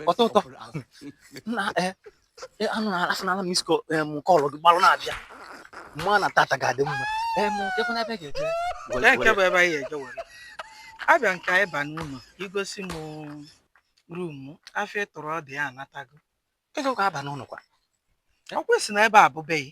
ọtọ ụtọ na anụ na-arafụ n'ala miss call gị gbalụ na-abịa m ma na tata ga-adị mma kekwanụ ebe ga-eje nke bụ ebe anyị eje were abịa nke anyị ba n'ụlọ igosi m room afụ ị tụrụ ọ dị ya anatago ego ka aba n'ụlọ kwa ọkwa ị sị na ebe a bụ be gị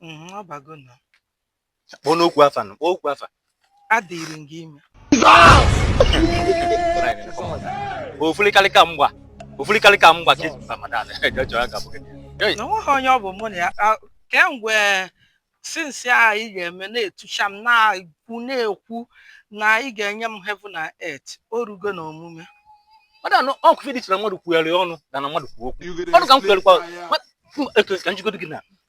Mhm, ọ bago na kpọọ nnukwu afa nụ kpọọ nnukwu afa adịrị m gị ime ofurikarịka mgba ofurikarịka mgba ka eji mba madad jọjọ ya gabụ gị na onweghị onye ọ bụ mụ na ya a- kemgbe since a ị ga-eme na-etucha m na-ekwu na-ekwu na ị ga-enye m heaven na earth o rugo na omume madad ọ kwuo ife dị iche na mmadụ kwugharị ọnụ na na mmadụ kwuo okwu ọnụ ka m kwugharịkwa ma- etu ka m jigodo gị na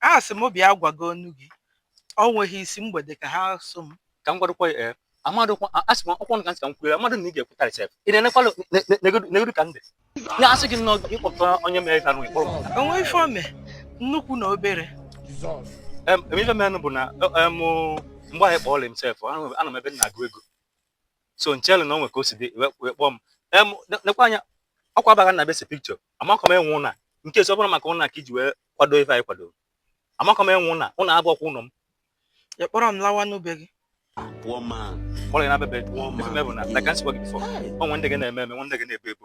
A sị mụ bịa gwa gị ọnụ gị. Ọ nweghị isi, mgbede ka ha sụ m. Ka m gwadụkwa ya ee. Amadụ kwa, a sị m ọkwa ọnụ ka m sị ka m kwuo ya, amadụ m na ị ga-ekwutarị sef. Ị na-enekwalụ, ne- ne- negodu negodu ka m dị. Na asị gị nnọọ gị kpọpụta onye mere ka nụ ịkpọrọ m pụta. O nweghị ife o mee, nnukwu na obere. Em, em, ife merenụ bụ na em, mgbe ahụ ị kpọọlị m sef, anọ m ebe m na-agụ ego. so m chelụ na o nwe ka o si dị wee kpọọ m em nekwa anya ọkwa abaghị na ebe ese picture amakọ m enwe ụnọ a nke esi ọ bụrụ maka ụnọ a ka iji wee kwado ife anyị kwadoro amakọ m enwe ụnọ a ụnọ a bụ ọkwa ụlọ m ị kpọrọ m lawa na be gị kpọrọ ya na bebe ife me bụ na na ka m si gwa gị before o nwe ndị gị na-eme eme nwe ndị gị na-ebu ebu